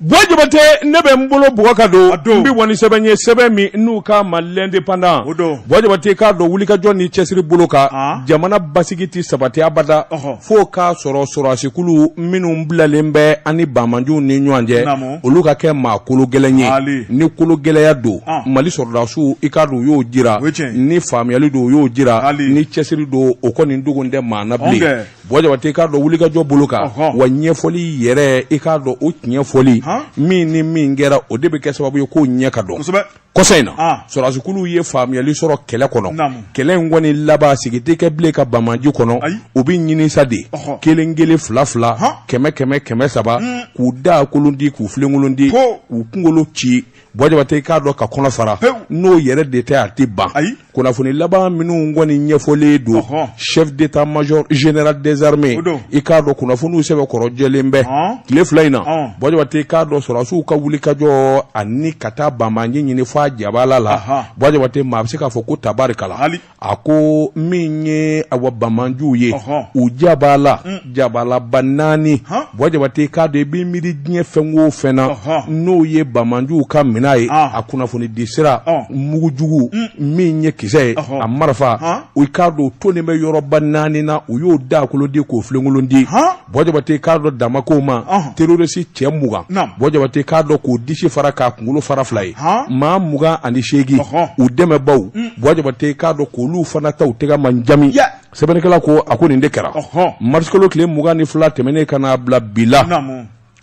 Jabate ne bɛ n bolo bɔ k'a don n bɛ wa ni sɛbɛn ye sɛbɛn min n'u k'a ma L'Indépendant Bɔjabate k'a dɔn wulikajɔ ni cɛsiri bolo kan jamana basigi tɛ sabati abada fo k'a sɔrɔ sɔrɔdasikulu minnu bilalen bɛ an ni banbaanciw ni ɲɔgɔn cɛ olu ka kɛ maa kologɛlɛn ye ni kologɛlɛya don mali sɔrɔdasiw i k'a dɔn u y'o jira ni faamuyali don u y'o jira ni cɛsiri don o kɔni dogolen tɛ maa na Bɔjabate i k'a dɔn wulikajɔ bolo kan wa ɲɛfɔli yɛrɛ i k'a dɔn o tiɲɛfɔli min ni min kɛra o de bɛ kɛ sababu ye ko ɲɛ ka dɔn kɔsa in na sɔrɔdasikulu ye faamuyali sɔrɔ kɛlɛ kɔnɔ kɛlɛ in kɔni laban sigi tɛ kɛ bilen ka banbaanci kɔnɔ u bɛ ɲini sa de kelen kelen fila fila kɛmɛ kɛmɛ kɛmɛ saba k'u da kolon ti k'u filenkolon ti k'u kunkolo ci i k'a dɔn k'a kɔnɔ fara n'o yɛrɛ de tɛ a tɛ ban kunnafoni laban minnu kɔni ɲɛfɔlen don chef d'état-major général des armées i k'a dɔn kunnafoniw sɛbɛn kɔrɔjɛlen bɛ tile fila in na Bɔjabate i k'a dɔn sɔrɔdasiw ka wulikajɔ ani ka taa banbaanci ɲini f'a jabala la Bɔjabate maa bɛ se k'a fɔ ko tabarikala a ko min ye awa banbaanciw ye u jabala mm. jabalaba naani Bɔjabate k'a dɔn i bɛ miiri diɲɛ fɛn o fɛn na n'o ye banbaanciw ka minan ye ah. a kunnafoni di sira ah. mugujugu mm. min ye kisɛ ye a marifaw i k'a dɔn tonnen bɛ yɔrɔba naani na u y'o da kolon ti k'o filenkolon ti Bɔjabate k'a dɔn dama ko ma terɔrisi cɛ mugan bɔjabate k'a dɔn k'o disi fara k'a kunkolo fara fila ye maa mugan ani seegin u dɛmɛbagaw bɔjabate k'a dɔn k'olu fana ta u tɛgɛ man jamu sɛbɛnnikɛla ko a ko nin de kɛra marisikalo tile mugan ni fila tɛmɛnen ka n'a bila bi la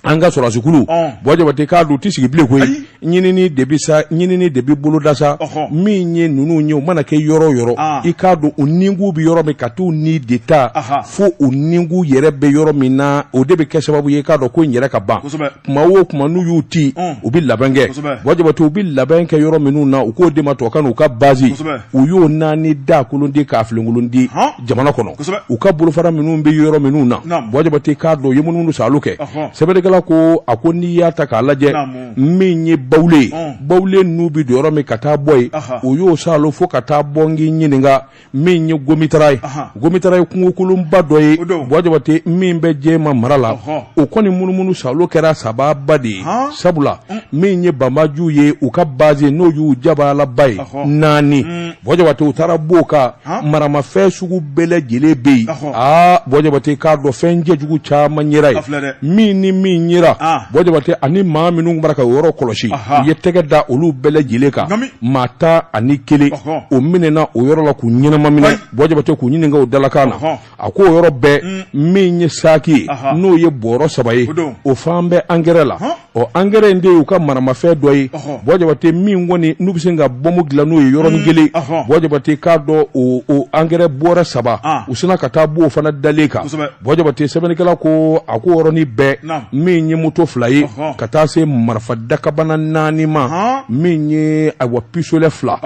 an ka sɔrɔdasikulu bɔjabate k'a dɔn tɛ sigi bilen koyi ɲinini de bɛ sa ɲinini de bɛ boloda sa min ye ninnu ye u mana kɛ yɔrɔ o yɔrɔ i k'a dɔn u nikun bɛ yɔrɔ min ka t'u ni de ta fo u nikun yɛrɛ bɛ yɔrɔ min na o de bɛ kɛ sababu ye k'a dɔn ko in yɛrɛ ka ban kuma o kuma n'u y'u ti u bɛ labɛn kɛ bɔjabate u bɛ labɛn kɛ yɔrɔ minnu na u k'o de ma tubabukan na u ka base u y'o naani da kolon ti k'a filenkolon ti jamana kɔnɔ u ka bolofara minnu bɛ yɔrɔ minnu na bɔjabate k'a dɔn u ye munumunusaalo kɛ sɛbɛnnikɛla ko a ko n'i y'a ta k'a lajɛ min ye Bawule ye Bawule n'u bɛ don yɔrɔ min ka taa bɔ yen u y'o saalo fo ka taa bɔ n k'i ɲininka min ye gomitara ye gomitara ye kungokolonba dɔ ye bɔjabate min bɛ Jɛma mara la o kɔni munumunusaalo kɛra sababuba de ye sabula min ye banbaanciw ye u ka base n'o y'u jabalaba ye naani bɔjabate u taara b'o kan maramafɛn sugu bɛɛ lajɛlen bɛ yen aa Bɔjabate k'a dɔn fɛn cɛjugu caman yera yen min ni min yera Bɔjabate ani maa minnu b'a ra k'o yɔrɔ kɔlɔsi u ye tɛgɛ da olu bɛɛ lajɛlen kan maa tan ani kelen o minɛna o yɔrɔ la k'u ɲɛnama minɛ Bɔjabate k'u ɲininka u dalakan na a ko yɔrɔ bɛɛ mm. min ye saki ye n'o ye bɔrɔ saba ye o falen bɛ angɛrɛ la o angɛrɛ in de y'u ka maramafɛn dɔ ye buwa jabate min kɔni n'u bɛ se ka bɔmu dilan n'o ye yɔrɔnin mm. kelen buwa jabate k'a dɔn o angɛrɛ bɔrɛ saba ah. u sinna ka taa bɔ o fana dalen kan buwa jabate sɛbɛnnikɛla ko a ko yɔrɔnin bɛɛ min ye moto fila ye ka taa se marifa dakabana naani ma min ye ayiwa pisolɛ fila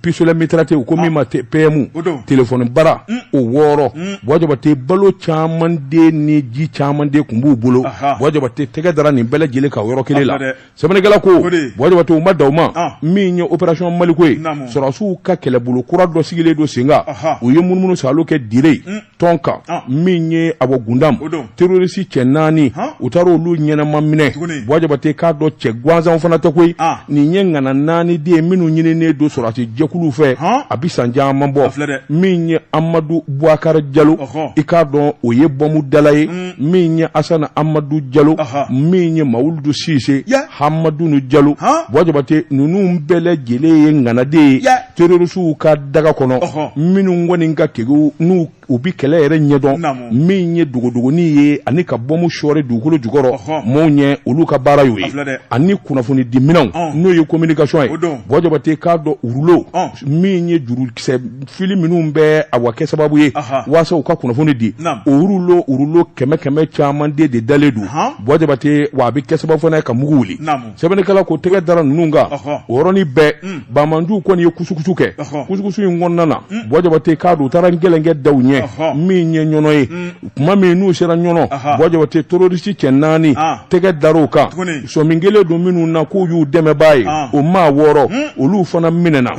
pisolɛ mitarate u ko min ah. ma pɛmu telefɔni bara mm. o wɔɔrɔ mm. buwa jabate balo caman de ni ji caman de tun b'u bolo buwa jabate tɛgɛ dara nin bɛɛ lajɛlen kan o yɔrɔ kelen la sɛbɛnnikɛla ko buwa jabate u ma dan o ma ah. min ye opération maliko ye sɔrɔsiw ka kɛlɛbolo kura dɔ sigilen don sen kan u ye munumunusaalo kɛ dire mm. tɔnka ah. min ye a bɔ gundam terroriste cɛ naani u taara olu ɲɛnama minɛ buwa jabate k'a dɔn cɛ gansanw fana tɛ koyi ah. nin ye ŋana naani de ye minnu ɲininen don sɔrɔsi jɛkuluw fɛ a bɛ san caman bɔ min ye amadu buwakari jalo i k'a dɔn o ye bɔmu dala ye mm. min ye asana amadu jalo min ye mawuludu sise hamadunu jalo buwa jabate ninnu bɛɛ lajɛlen ye ŋana de ye terorisiw ka daga kɔnɔ minnu kɔni ka kegun n'u U bɛ kɛlɛ yɛrɛ ɲɛdɔn min ye dogodogonin ye ani ka bɔmu sɔɔri dugukolo jukɔrɔ maaw ɲɛ olu ka baara y'o ye ani kunnafonidiminɛnw n'o ye communication ye buwa jabate k'a dɔn o rulo min ye jurukisɛ fili minnu bɛ awa kɛ sababu ye waasa u ka kunnafoni di o rulo rulo kɛmɛ kɛmɛ caman de de dalen don buwa jabate wa a bɛ kɛ sababu fana ye ka mugu wuli sɛbɛnnikɛla ko tɛgɛ dara ninnu kan o yɔrɔnin bɛɛ mm. bamanjuw kɔni ye kusukusu kɛ kusukusu in kɔnɔna na mm. buwa jabate k'a dɔn u taara gɛlɛn kɛ dɔw ɲɛ min ye ɲɔnɔ ye mm. tuma min n'u sera ɲɔnɔ buwa jabate terorisi cɛ naani ah. tɛgɛ dar'u kan sɔmi kɛlen don minnu na k'u y'u dɛmɛbaa ye ah. o maa wɔɔrɔ olu fana minɛna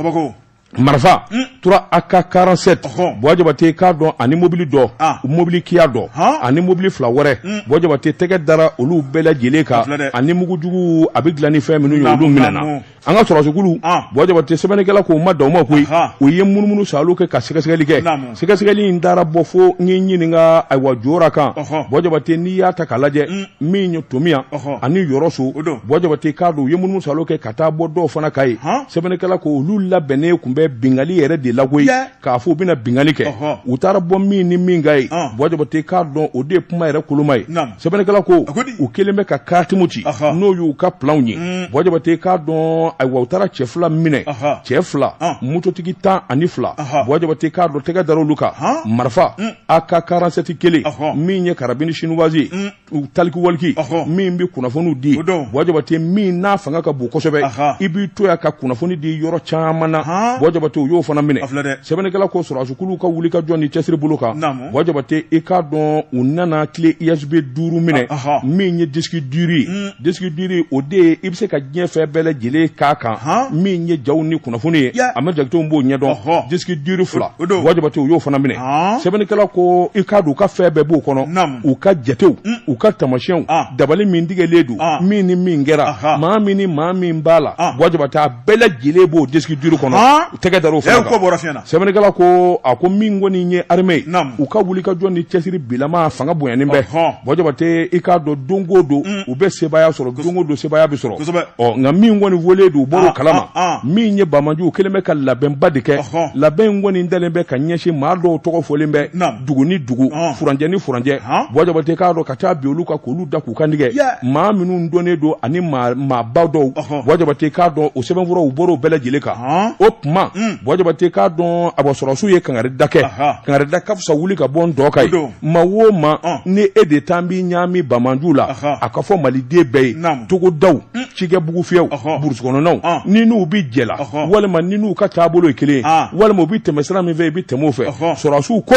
marifa hmm. tura AK quarante-sept buwa jabate k'a dɔn ani mobili dɔ ah. mobili kiya dɔ ani mobili fila wɛrɛ hmm. buwa jabate tɛgɛ dara olu bɛɛ lajɛlen kan ani mugujugu a bɛ dilan ni fɛn minnu ye olu minɛna an ka sɔrɔsikulu ah. buwa jabate sɛbɛnnikɛla k'o ma dan o ma koyi u ye munumunusaalo kɛ ka sɛgɛsɛgɛli kɛ sɛgɛsɛgɛli in taara bɔ fo n ye ɲininka ayiwa jora kan buwa jabate n'i y'a ta k'a lajɛ hmm. min ye tominiyan ani yɔrɔso buwa jabate k'a dɔn u ye munumunusaalo kɛ ka taa bɔ dɔw fana kan yen sɛbɛnnikɛla ko olu labɛnnen tun bɛ bingali yɛrɛ de la koyi k'a fɔ u bɛna bingali kɛ u taara bɔ min ni min kan yen buwa jabate k'a dɔn o de ye kuma yɛrɛ koloma ye sɛbɛnnikɛla ko u kɛlen bɛ ka karti min ci n'o y'u ka planw ye mm. buwa jabate k'a dɔn ayiwa u taara cɛ fila minɛ cɛ fila mototigi tan ani fila buwa jabate k'a dɔn tɛgɛ dara olu kan marifa mm. aka karansɛti kelen min ye karabini sinuwasi u talikiwaliki min bɛ kunnafoniw di buwa jabate min n'a fanga ka bon kosɛbɛ i b'i to yan ka kunnafoni di yɔrɔ caman na buwa jabate u y'o fana minɛ sɛbɛnnikɛla ko sɔrɔsikulu ka wuli ka jɔ ni cɛsiri bolo kan buwa jabate i k'a dɔn u nana clé USB duuru minɛ min ye disque dur ye disque dur o de ye i bɛ se ka diɲɛ fɛn bɛɛ lajɛlen k'a kan min ye jaw ni kunnafoni ye a ma jakitew b'o ɲɛdɔn disque dur fila buwa jabate u y'o fana minɛ sɛbɛnnikɛla ko i k'a dɔn u ka fɛn bɛɛ b'o kɔnɔ u ka jatew u ka tamasiyɛnw dabali min tigɛlen don min ni min kɛra maa min ni maa min b'a la buwa jabate a bɛɛ lajɛlen b'o disque dur kɔnɔ tɛgɛ dara o fana sɛbɛnnikɛla ko a ko min kɔni ye armée ye Naamu. u ka wuli ka jɔ ni cɛsiri bilama fanga bonyanen bɛ Ɔhɔn. buwa jabate i k'a dɔn don o don u bɛ sebaaya sɔrɔ don o don sebaaya bɛ sɔrɔ Kosɛbɛ. ɔ nka min kɔni wele don u bɔra Ah, o kalama ah, ah. min ye bamajuw kelen bɛ ka labɛnba de kɛ Ɔhɔn. labɛn in kɔni dalen bɛ ka ɲɛsin maa dɔw tɔgɔ fɔlen bɛ Naamu. dugu ni dugu Ɔhɔn. furancɛ ni furancɛ Ɔhɔn. buwa jabate k'a dɔn ka taa bin olu kan k'olu da u kan tigɛ maa minnu dɔnnen don ani maaba dɔw buwa jabate k'a dɔn o sɛbɛnfuraw u bɔr'o bɛɛ lajɛlen kan o tuma hmm. buwa jabate k'a dɔn a sɔrɔsiw ye kankari da kɛ kankari da ka fisa wuli ka bɔ n dɔgɔ kan ye maa o maa ni e de taa b'i ɲaami banmanju la a ka fɔ maliden bɛɛ ye togodaw hmm. cikɛ bugufiyɛw burusi kɔnɔnaw ni n'u bɛ jɛ la walima ni n'u ka taabolo ye kelen ye walima u bɛ tɛmɛ sira min fɛ i bɛ tɛmɛ o fɛ sɔrɔsiw ko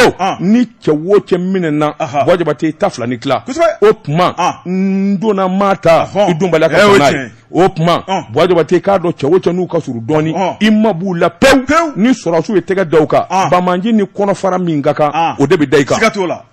cɛ o cɛ minɛna buwa jabate ta fila ni tila o tuma n donna maa ta i donbaliya ka o tuma buwa jabate k'a dɔn cɛ o cɛ n'u ka surun dɔɔni i ma b'u la pewu ni sɔrɔsiw ye tɛgɛ da u kan bamanji ni kɔnɔfara min ka kan o de bɛ da i kan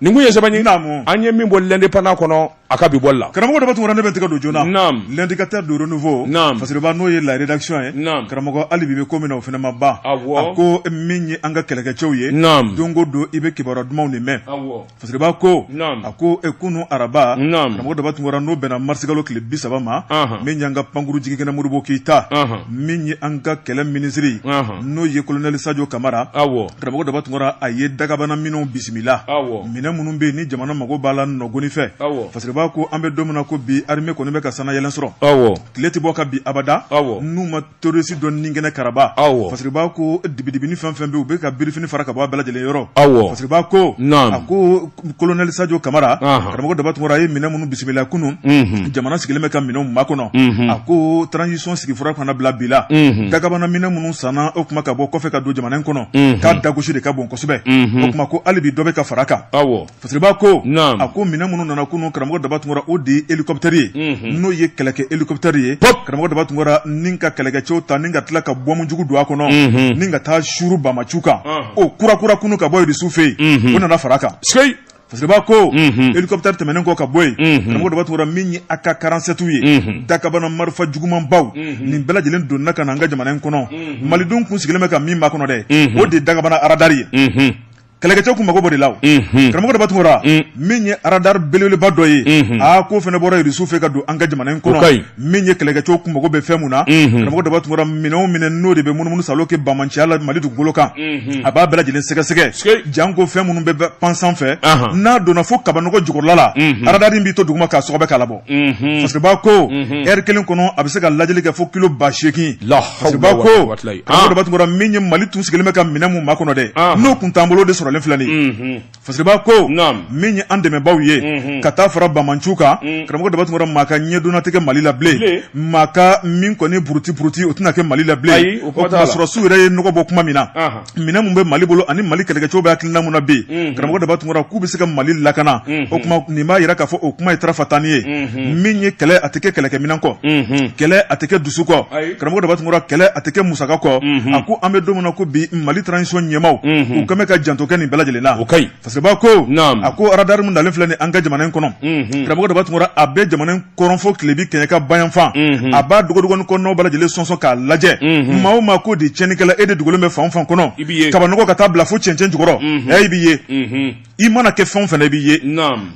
nin kun ye sɛbɛn ye an ye min bɔ l'indépendant kɔnɔ a ka bi bɔli la karamɔgɔ daba tunkara ne bɛ n tɛgɛ don joona naam l'indicateur du renouveau naam fasiriba n'o ye la rédaction ye naam karamɔgɔ hali bi bɛ ko min na o fana ma ban awɔ a ko min ye an ka kɛlɛkɛcɛw ye naam don o don i bɛ kibaruya dumanw de mɛn awɔ fasiriba ko naam a ko kunu araba naam karamɔgɔ daba tunkara n'o bɛnna mars kalo tile bi saba ma min y'an ka pankuru jigikɛnɛ modibo keyita min ye an ka kɛlɛ minisiri n'o ye colonel sajo kamara awɔ karamɔgɔ daba tunkara a ye dagabana minɛnw bisimila awɔ minɛn minnu bɛ yen ni jamana mago b'a la nɔgɔni fɛ fasiriba ko an bɛ don min na ko bi armée kɔni bɛ ka sanayɛlɛn sɔrɔ awɔ tile tɛ bɔ ka bin abada awɔ n'u ma terroriste dɔ ni kɛnɛ karaba awɔ fasiriba ko dibidibini fɛn fɛn bɛ u bɛ ka birifini fara ka bɔ a bɛɛ lajɛlen yɔrɔ awɔ fasiriba ko a ko colonel sajo kamara karamɔgɔ daba tunkara a ye minɛn minnu bisimila kunun jamana sigilen bɛ ka minɛnw makɔnɔ a ko transition sigifura ka na bila bi la dagabana minɛn minnu sanna o kuma ka bɔ kɔfɛ ka don jamana in kɔnɔ k'a dagosi de ka bon kosɛbɛ o kuma ko hali bi dɔ bɛ ka fara kan fasiriba ko a ko minɛn minnu nana kunun karamɔgɔ daba tunkara o de elikɔpteri ye n'o ye kɛlɛkɛ elikɔpteri ye karamɔgɔ daba tunkara ni ka kɛlɛkɛcɛw ta ni ka tila ka bɔmu jugu don a kɔnɔ ni ka taa suuru banbaanciw kan o kura kura kunun ka bɔ irisiw fɛ yen o nana fara kan Fasiriba ko elikɔpteri tɛmɛnen kɔ ka bɔ yen karamɔgɔ daba tunkara min ye AK quarante-sept ye dakabana marifa jugumanbaw nin bɛɛ lajɛlen donna ka na an ka jamana in kɔnɔ malidenw kun sigilen bɛ ka min makɔnɔ dɛ o de dakabana aradari ye kɛlɛkɛcɛw kun mako b'o de la karamɔgɔ daba tunkara min ye aradari belebeleba dɔ ye aa k'o fana bɔra irisiw fɛ ka don an ka jamana in kɔnɔ min ye kɛlɛkɛcɛw kun mago bɛ fɛn min na karamɔgɔ daba tunkara minɛn o minɛn n'o de bɛ munumunu saalo kɛ banbaanciya la mali dugukolo kan a b'a bɛɛ lajɛlen sɛgɛsɛgɛ janko fɛn minnu bɛ pan sanfɛ n'a donna fo kabanɔgɔ jukɔrɔla la aradari in b'i to dugu ma k'a sɔgɔbɛ k'a labɔ fasiriba ko ɛri kelen kɔnɔ a bɛ se ka lajɛli kɛ fo kilo ba seegin fasiriba ko karamɔgɔ daba tunkara min ye mali tun sigilen bɛ ka minɛn min makɔnɔ dɛ n'o kun t'an bolo de sɔrɔlen filɛ Fasiriba ko min ye an dɛmɛbaaw ye ka taa fara banbaanciw kan karamɔgɔ daba tunkara maa ka ɲɛdonna tɛ kɛ mali la bilen maa ka min kɔni buruti buruti o tɛna kɛ mali la bilen o sɔrɔdasiw yɛrɛ ye nɔgɔ bɔ kuma min na minɛn min bɛ mali bolo ani mali kɛlɛkɛcɛw bɛ hakilina min na bi karamɔgɔ daba tunkara k'u bɛ se ka mali lakana o kuma nin b'a yira k'a fɔ o kuma ye tarafatani ye min ye kɛlɛ a tɛ kɛ kɛlɛkɛminɛn kɔ kɛlɛ a tɛ kɛ dusu kɔ karamɔgɔ daba tunkara kɛlɛ a tɛ kɛ musaka kɔ a ko an bɛ don min na ko bi mali transition ɲɛmaaw u kɛlen bɛ ka janto kɛ nin bɛɛ lajɛlen na fasiriba ko a ko aradari min nalen filɛ nin an ka jamana in kɔnɔ karamɔgɔ daba tunkara a bɛ jamana in kɔrɔn fo tilebin kɛɲɛka bayanfan a b'a dogodogonin kɔnɔnaw bɛɛ lajɛlen sɔnsɔn k'a lajɛ maa o maa ko de tiɲɛnikɛla e de dogolen bɛ fan o fan kɔnɔ kabanɔgɔ ka taa bila fo cɛncɛn jukɔrɔ a b'i ye i mana kɛ fɛn o fɛn a b'i ye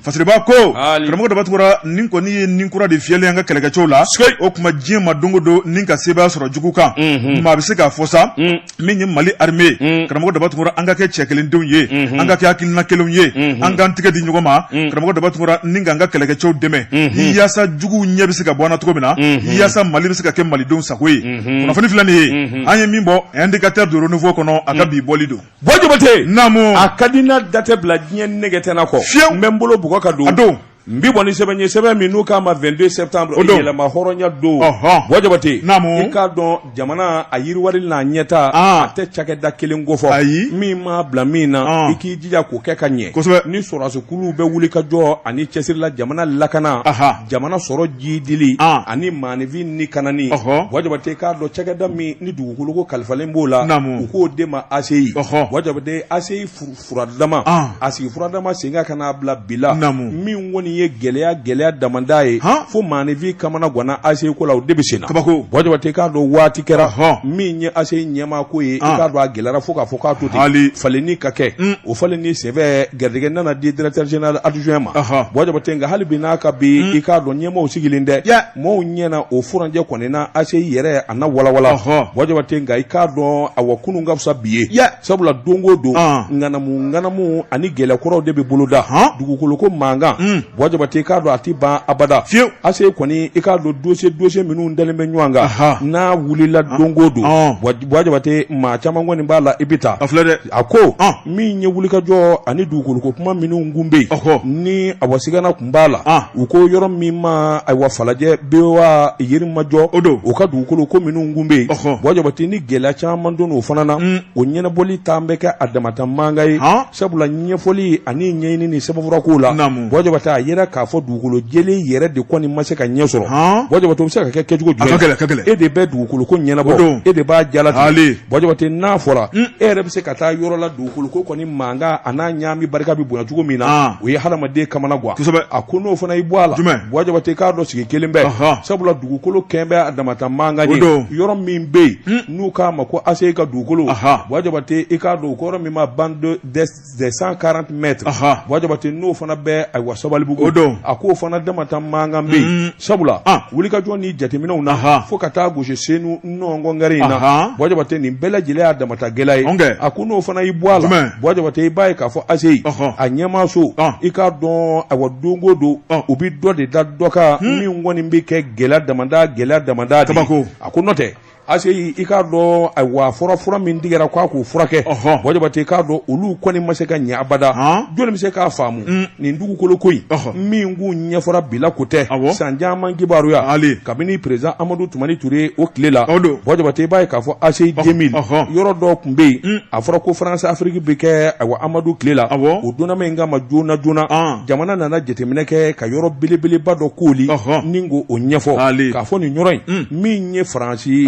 fasiriba ko karamɔgɔ daba tunkara nin kɔni ye ni kura de fiyɛlen an ka kɛlɛkɛcɛw la o kuma diɲɛ ma don o don ni ka sebaaya sɔrɔ jugu kan maa bɛ se k'a fɔ sa min ye mali arme karamɔgɔ daba tunkara an ka kɛ cɛ kelen denw ye an ka kɛ hakilina kelenw ye an k'an tɛgɛ di ɲɔgɔn ma karamɔgɔ daba tunkara ni ka an ka kɛlɛkɛcɛw dɛmɛ yaasa juguw ɲɛ bɛ se ka bɔ an na cogo min na yaasa mali bɛ se ka kɛ malidenw sago ye kunnafoni filɛ nin ye an ye min bɔ indicateur du renouveau kɔnɔ a ka bi bɔli don Bɔ jabate naamu a ka di n na da tɛ bila diɲɛ nɛgɛ tɛna kɔ fiye n bɛ n bolo bugɔ ka don a don n bɛ bɔ ni sɛbɛn ye sɛbɛn min n'u k'a ma vingt-deux septembre yɛrɛmahɔrɔnya don bɔ jabate n'i k'a dɔn jamana a yiriwali n'a ɲɛtaa a tɛ cakɛda kelen kofɔ ayi min mana bila min na i k'i jija k'o kɛ ka ɲɛ ni sɔrɔdasikulu bɛ wuli ka jɔ ani cɛsiri la jamana lakana jamana sɔrɔ jidili ani maanifin ni kanani Buwa Jabate i k'a dɔn cakɛda min ni dugukolo ko kalifalen b'o la u k'o de ma ACI Buwa Jabate ACI furadama a sigi furadama sen ka ka n'a bila bila min kɔni ye gɛlɛya gɛlɛya damada ye fo maanifin kamana gwanna ACI ko la o de bɛ sen na kabako Buwa Jabate i k'a dɔn waati kɛra min ye ACI ɲɛmaa ko ye i k'a dɔn a gɛlɛyara fo k'a fɔ k'a to ten falenni ka kɛ o falen sen fɛ garijɛgɛ nana di directeur général adjoint ma Buwa Jabate nka hali bi n'a ka bi i k'a dɔn ɲɛmaaw sigilen dɛ maaw ɲɛna o furancɛ kɔni na ACI yɛrɛ a n'a walawala Buwa Jabate nka i k'a dɔn ayiwa kunun ka fisa bi ye sabula don o don ŋanamu ŋanamu ani gɛlɛkɔrɔw de bɛ boloda hɔn dugukolo ko mankan Buwa Jabate i k'a dɔn a tɛ ban abada fiyewu ACI kɔni i k'a dɔn dossier dossier minnu dalen bɛ ɲɔgɔn kan n'a wulila don o don Buwa Jabate maa caman kɔni b'a la i bɛ taa. A filɛ dɛ. A ko. Ɔn! Min ye wulikajɔ ani dugukolo ko kuma minnu kun bɛ yen. Ɔhɔ! Ni awa sigana kun b'a la. An! U ko yɔrɔ min ma ayiwa Falajɛ Buwa Yirimajɔ. O don. O ka dugukolo ko minnu kun bɛ yen. Ɔhɔ! Buwa Jabate ni gɛlɛya caman donna o fana na. Un! O ɲɛnabɔli taa bɛ kɛ a damata mankan ye. Han! Sabula ɲɛfɔli ani ɲɛɲini ni sɛbɛnfura kow la. Naamu! Buwa Jabate a yera k'a fɔ dugu dugukolo jɛlen yɛrɛ de kɔni ma se ka ɲɛ sɔrɔ han Buwa Jabate o bɛ se ka kɛ kɛcogo jumɛn a ka gɛlɛn ka gɛlɛn e de bɛ dugukolo ko ɲɛnabɔ o don e de b'a jalatigɛ Buwa Jabate n'a fɔra e yɛrɛ bɛ se ka taa yɔrɔ la dugukolo ko kɔni mankan a n'a ɲaami barika bɛ bonya cogo min na o ye hadamaden kamana gwan kosɛbɛ a ko n'o fana y'i bɔ a la jumɛn Buwa Jabate i k'a dɔn sigi kelen bɛ sabula dugukolo kɛn bɛ a damata mankan ye o don yɔrɔ min bɛ yen n'u k'a ma ko ACI ka dugukolo Buwa Jabate i k'a dɔn o ko yɔrɔ min ma bande des 140 mètres ɔnhɔn Buwa Jabate n'o fana bɛ ayiwa Sabalibugu o don a k'o fana damata mankan bɛ yen sabula wulikajɔ ni jateminɛw na fo ka taa gosi Senu nɔnkɔn kɛrɛ in na Buwa Jabate nin bɛɛ lajɛlen y'a damata gɛlɛya ye ɔnkɛ a ko n'o fana y'i bɔ a la jumɛn Buwa Jabate i b'a ye k'a fɔ ACI ɔnhɔn a ɲɛmaa so i k'a dɔn ayiwa don o don u bɛ dɔ de da dɔ kan min kɔni bɛ kɛ gɛlɛya damada gɛlɛya damada de ye kabako a ko n'o tɛ ACI i k'a dɔn ayiwa fura fura min tigɛra k'a k'o furakɛ Buwa Jabate i k'a dɔn olu kɔni ma se ka ɲɛ abada jɔnni bɛ se k'a faamu nin dugukolo ko in min koɲɛ fɔra bila ko tɛ san caman kibaruya kabini président Amadu Tumani Ture o tile la o don Buwa Jabate i b'a ye k'a fɔ ACI 2000 yɔrɔ dɔ tun bɛ yen a fɔra ko France Afrique bɛ kɛ ayiwa Amadu tile la o dunanma in kama joona joona jamana nana jateminɛ kɛ ka yɔrɔ belebeleba dɔ kooli ni k'o ɲɛfɔ k'a fɔ nin yɔrɔ in n ye Faransi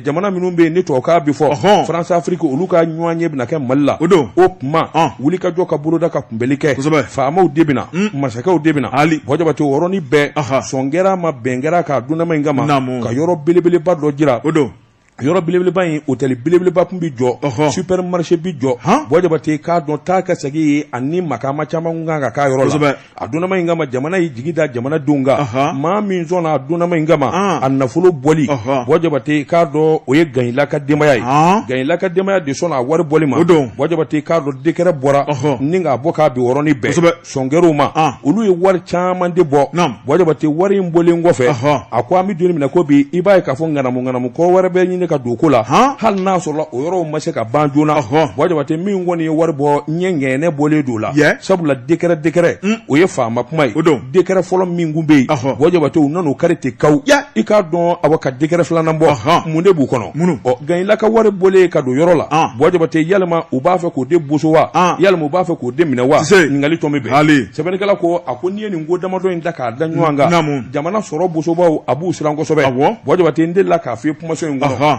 jamana minnu bɛ yen ni tubabukan bɛ fɔ France Afrique olu ka ɲɔgɔn ye bɛna kɛ mali la o don o tuma wulikajɔ ka boloda ka kunbɛnli kɛ faamaw de bɛ na masakɛw de bɛ na hali Buwa Jabate yɔrɔ nin bɛɛ sɔn kɛra a ma bɛn kɛra k'a dunanma in kama ka yɔrɔ belebeleba dɔ jira o don yɔrɔ belebeleba in hôtel belebeleba tun bɛ jɔ supermarché bɛ jɔ Buwa Jabate i k'a dɔn taa ka segin ye ani makaama caman kun ka kan k'a yɔrɔ a donma in kama jamana y'i jigi da jamana dɔw kan maa min sɔnna a donma in kama a nafolo bɔli bɔ jabate k'a dɔn o ye ganyila ka denbaya ye ganyila ka denbaya de sɔnna a wari bɔli ma bɔ jabate k'a dɔn dɛkɛrɛ bɔra ni k'a bɔ k'a bin o yɔrɔnin bɛɛ sɔnkɛrw ma olu ye wari caman de bɔ bɔ jabate wari in bɔlen kɔfɛ a ko an bɛ don min na ko bi i b'a ye k'a fɔ ŋanamu ŋanamu ko wɛrɛ bɛ ɲini ka don ko la hali n'a sɔrɔ o yɔrɔ ma se ka ban joona bɔ jabate min kɔni ye wari bɔ ɲɛ ŋgɛnɛnɛ bɔlen don la sabula dɛkɛrɛ dɛkɛrɛ hmm. o ye faama kuma ye dɛkɛrɛ fɔlɔ min kun bɛ yen bɔ jabate u nan'o kari ten kaw i k'a dɔn awa ka dɛkɛrɛ filanan bɔ mun de b'u kɔnɔ ɔ ganyila ka wari bɔlen ka don yɔrɔ la bɔ jabate yalima u b'a fɛ k'o de boso wa yalima u b'a fɛ k'o de minɛ wa ɲininkali tomi bɛ yen sɛbɛnnikɛla ko a ko n'i ye nin ko damadɔ in ta k'a da ɲɔgɔn kan jamana sɔrɔ bosobaw a b'u siran kosɛbɛ bɔ jabate n delila k'a f'i ye kumaso in kɔnɔ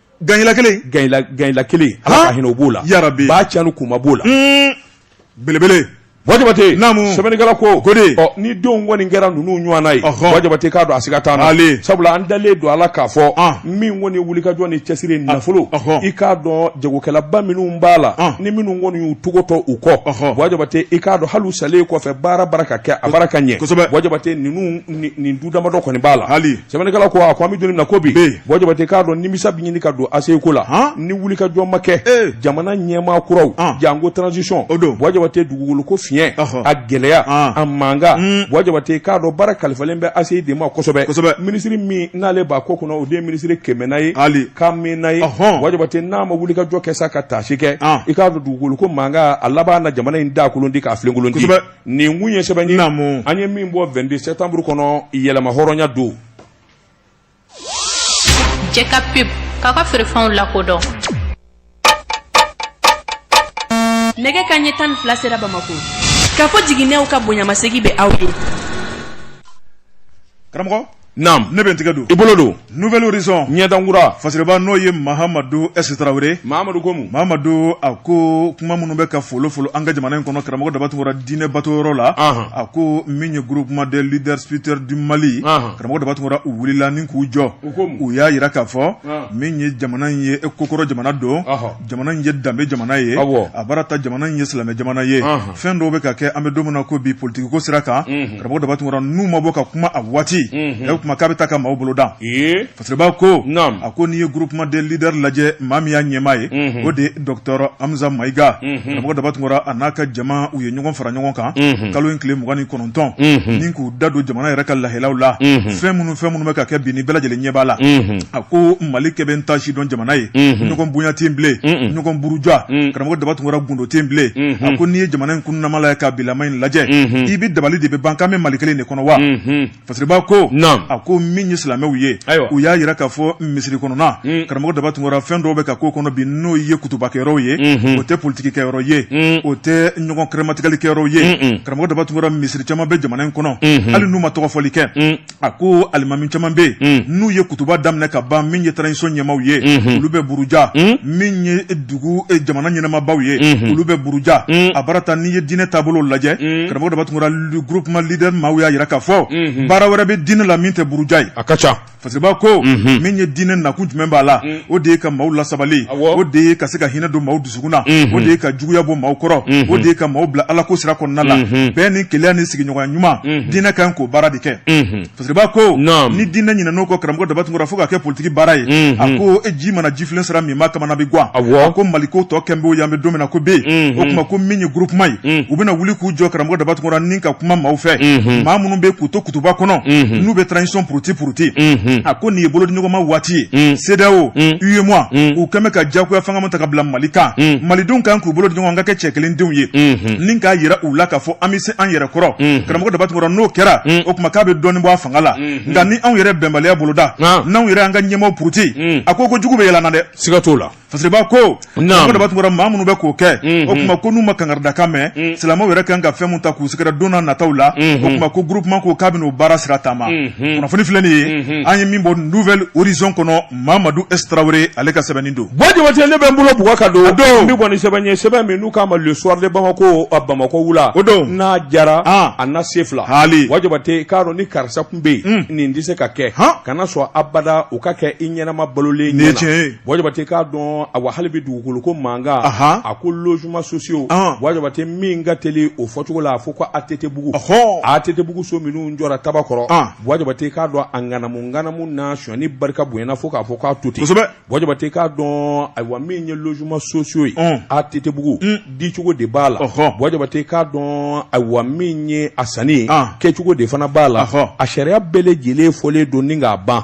Ganyila kelen ganyila kelen ala ka hinɛ b'o la ya ba ca ni kuma b'o la belebele bɔ jabate naamu sɛbɛnnikɛla ko ko ni denw kɔni kɛra ninnu ɲɔgɔnna ye bɔ jabate k'a dɔn a siga t'an na sabula an dalen don a la k'a fɔ min kɔni ye wulikajɔ ni cɛsiri nafolo i k'a dɔn jagokɛlaba minnu b'a la ni minnu kɔni y'u tɔgɔ to u kɔ bɔ jabate i k'a dɔn hali u salen kɔfɛ baara bara ka kɛ a bara ka ɲɛ bɔ jabate ninnu nin du damadɔ kɔni b'a la sɛbɛnnikɛla ko a ko an bɛ don min na ko bi bɔ jabate k'a dɔn nimisa bɛ ɲini ka don ACI ko la ni wulikajɔ ma kɛ eh. jamana ɲɛmaa kuraw janko transition bɔ jabate dugukolo ko fiɲɛ a gɛlɛya a mankan hmm. bɔ jabate k'a dɔn baara kalifalen bɛ ACI de ma kosɛbɛ kosɛbɛ minisiri min n'ale b'a ko kɔnɔ o de ye minisiri kɛmɛna ye wali kamɛna ye bɔ jabate n'a ma wulikajɔ kɛ sa ka taasi kɛ i k'a dɔn dugukolo ko mankan a laban na jamana in daa kolon ti k'a filenkolon ti nin kun ye sɛbɛn ye an ye min bɔ vingt-deux septembre kɔnɔ yɛrɛmahɔrɔnya don jɛka pub k'a ka feerefɛnw lakodɔn nɛgɛ kanɲɛ tan ni fila sera bamakɔ kafo jiginɛw ka bonyamasegin bɛ aw ye karamɔgɔ Naamu ne bɛ n tigɛ don i bolo don Nouvel Horizon ɲɛdankura fasiriba n'o ye Mahamadu S Traoré Mahamadu ko mun Mahamadu a ko kuma minnu bɛ ka folo folo an ka jamana in kɔnɔ karamɔgɔ daba tunkara diinɛ batoyɔrɔ la anhan a ko min ye groupement des leaders spirituels du Mali anhan karamɔgɔ daba tunkara u wulila ni k'u jɔ u ko mun u y'a yira k'a fɔ ɔɔn min ye jamana in ye kokɔrɔ jamana don ɔhɔ jamana in ye danbe jamana ye a baara ta jamana in ye silamɛ jamana ye fɛn dɔw bɛ ka kɛ an bɛ don min na ko bi politikiko sira kan karamɔgɔ daba tunkara n'u ma bɔ ka kuma a waati o kuma k'a bɛ taa ka maaw bolo dan fasiriba ko a ko n'i ye groupement des leaders lajɛ maa min y'a ɲɛmaa ye o de ye docteur Hamza Mayiga karamɔgɔ daba tunkara a n'a ka jama u ye ɲɔgɔn fara ɲɔgɔn kan kalo in tile mugan ni kɔnɔ dɔn ni k'u da don jamana yɛrɛ ka lahalaw la fɛn minnu fɛn minnu bɛ ka kɛ bi ni bɛɛ lajɛlen ɲɛ b'a la a ko mali kɛ bɛ n ta si dɔn jamana ye ɲɔgɔn bonya tɛ yen bilen ɲɔgɔn buruja karamɔgɔ Daba Tunkara gundo tɛ yen bilen a ko n'i ye jamana in kun namala ye ka bilama in lajɛ i bɛ dabali de bɛ ban k'an bɛ mali kelen de kɔnɔ wa fasiriba ko a ko min ye silamɛw ye u y'a jira k'a fɔ misiri kɔnɔna na karamɔgɔ Daba Tunkara fɛn dɔw bɛ ka k'o kɔnɔ bi n'o ye kutubakɛyɔrɔ ye o tɛ politikikɛyɔrɔ ye o ɲɔgɔn kɛrɛmatigɛli kɛyɔrɔw ye un un karamɔgɔ Daba Tunkara misiri caman bɛ jamana in kɔnɔ Unhun. hali n'u ma tɔgɔfɔli kɛ un a ko alimami caman bɛ Un. yen n'u ye kutuba daminɛ ka ban min ye transition ɲɛmaaw ye Unhun. olu bɛ buruja Un. min ye dugu eh, jamana ɲɛnamabaw ye Unhun. olu bɛ buruja Un. a baara ta n'i ye diinɛ taabolo lajɛ Un. karamɔgɔ Daba Tunkara groupement leader maaw y'a jira k'a fɔ Unhun. baara wɛrɛ bɛ diinɛ la min tɛ buruja ye a ka ca fasiriba ko min ye diinɛ nakun jumɛn b'a la o de ye ka maaw lasabali o de ye ka se ka hinɛ don maaw dusukun na o de ye ka juguya bɔ maaw kɔrɔ o de ye ka maaw bila ala ko sira kɔnɔna la bɛɛ ni kelenya ni sigiɲɔgɔnya ɲuman diinɛ kan k'o baara de kɛ fasiriba ko ni diinɛ ɲinɛn'o kɔ karamɔgɔ Daba Tunkara fo ka kɛ politiki baara ye a ko e ji mana jifilen sira min i ma kamana bi gan a ko mali ko tɔ kɛn b'o ye an bɛ don min na ko bi o tuma ko min ye groupement ye u bɛna wuli k'u jɔ karamɔgɔ Daba Tunkara ni ka kuma maaw fɛ maa minnu bɛ k'u to kutuba kɔnɔ n'u bɛ transition puruti puruti a ko nin ye bolodiɲɔgɔnma waati ye CEDEAO UEMOA u kɛlen bɛ ka jagoya fanga min ta ka bila mali kan malidenw kan k'u bolo di ɲɔgɔn ma ka kɛ cɛ kelen denw ye ni k'a jira u la k'a fɔ an bɛ se an yɛrɛ kɔrɔ karamɔgɔ Daba Tunkara n'o kɛra o tuma k'a bɛ dɔɔnin bɔ a fanga la nka ni anw yɛrɛ bɛnbaliya boloda n'anw yɛrɛ an ka ɲɛmaaw puruti hmm. a ko ko jugu bɛ yɛlɛ an na dɛ siga t'o la fasiriba ko Daba Tunkara maa minnu bɛ k'o kɛ hmm, o hmm. tuma ko n'u ma kangaridakan mɛn silamɛw yɛrɛ kan ka fɛn min ta k'u sɛgɛrɛ don na nataw la o tuma ko groupement ko k'a bɛn'o baara sira taama kunnafoni filɛ nin ye an ye min bɔ Nouvel Horizon kɔnɔ Mamadu S Tarawele ale ka sɛbɛnni don Boua Diabaté ne bɛ n bolo bugɔ ka don o don min kɔni sɛbɛn n ye sɛbɛn min n'u k'a ma le soir de Bamako a Bamakɔ wula o don n'a diyara an a na se fila haali Boua Diabaté i k'a dɔn ni karisa tun bɛ yen nin tɛ se ka kɛ han kana sɔn abada o ka kɛ i ɲɛnama balolen ɲɛna nin ye tiɲɛ ye Boua Diabaté i k'a dɔn awa hali bi dugukolo ko mankan anhan a ko logements sociaux an Boua Diabaté min ka teli o fɔcogo la a fɔ ko ATT bugu ɔhɔɔ ATT bugu so minnu jɔra Tabakɔrɔ an Boua Diabaté k'a dɔn a ŋanamuŋanamu n'a sonyali barika bonyana fo k'a fɔ k'a to ten Boua Diabaté k'a dɔn ayiwa min ye logements sociaux ye ATT bugu dicogo de b'a la Boua Diabaté k'a dɔn ayiwa min ye a sanni kɛcogo de fana b'a la a sariya bɛɛ lajɛlen fɔlen don ni k'a ban